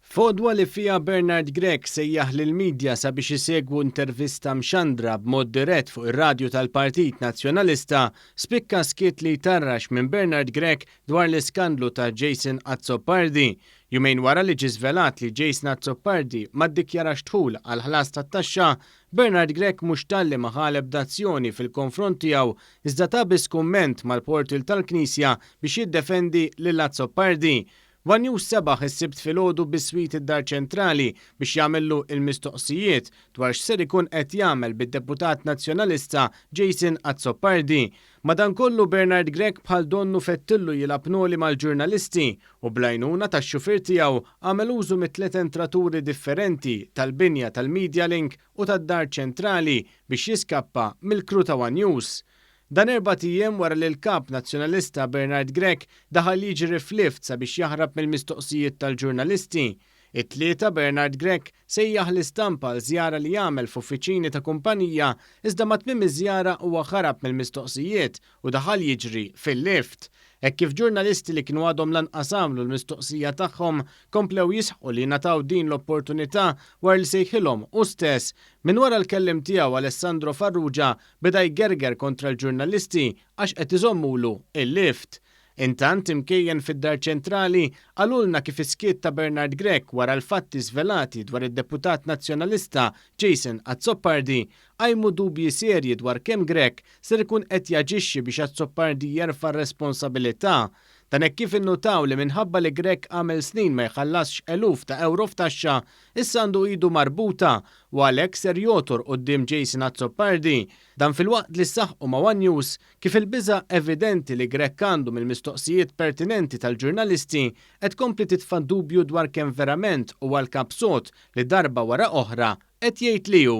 F'għodwa li fiha Bernard Grech sejjaħ lill-media sabiex isegwu intervista mxandra b'mod dirett fuq ir-radju tal-Partit Nazzjonalista, spikka skiet li jtarrax minn Bernard Grech dwar l-iskandlu ta' Jason Azzopardi, jumejn wara li ġie żvelat li Jason Azzopardi ma ddikjarax dħul għall-ħlas tat-taxxa Bernard Grech mhux talli ma ħa l-ebda azzjoni fil-konfront tiegħu iżda ta biss kumment mal-portal tal-Knisja biex jiddefendi lil Azzopardi. One News sebaħ is-Sibt filgħodu biswit id-Dar Ċentrali biex jagħmillu l-mistoqsijiet dwar x'ser ikun qed jagħmel bid-deputat Nazzjonalista Jason Azzopardi. Madankollu, Bernard Grech bħal donnu fettillu jilgħab noli mal-ġurnalisti u bl-għajnuna tax-xufier tiegħu għamel użu mit-tliet entraturi differenti tal-binja tal-Medialink u tad-Dar Ċentrali biex jiskappa mill-crew ta' one News. Dan erbat ijiem wara li l-Kap Nazzjonalista Bernard Grech daħal jiġri f'lift sabiex jaħrab mill-mistoqsijiet tal-ġurnalisti. It-Tlieta, Bernard Grech sejjaħ l-istampa għal żjara li għamel f'uffiċini ta' kumpanija iżda ma' tmiem iż-żjara huwa ħarab mill-mistoqsijiet u daħal jiġri fil-lift. Hekk kif ġurnalisti li kienu għadhom lanqas għamlu l-mistoqsija tagħhom komplew jisħqu li ngħataw din l-opportunità wara li sejħilhom hu stess, minn wara l-kelliem tiegħu Alessandro Farrugia beda jgerger kontra l-ġurnalisti għax qed iżommulu l-lift. Intant, imkejjen fid-Dar Ċentrali, qalulna kif is-skiet ta' Bernard Grech wara l-fatti żvelati dwar id-deputat Nazzjonalista Jason Azzopardi qajmu dubji serji dwar kemm Grech ser ikun qed jaġixxi biex Azzopardi jerfa' r-responsabilità. Dan hekk kif innutaw li minħabba li Grech għamel snin ma jħallasx eluf ta' ewro f'taxxa, issa għandu idu marbuta u għalhekk ser jogħtor quddiem Jason Azzopardi. Dan filwaqt li saħqu ma' one News Kif il-biża' evidenti li Grech għandu mill-mistoqsijiet pertinenti tal-ġurnalisti qed tkompli titfa' d-dubju dwar kemm verament huwa l-kap sod li darba wara oħra qed jgħid li hu.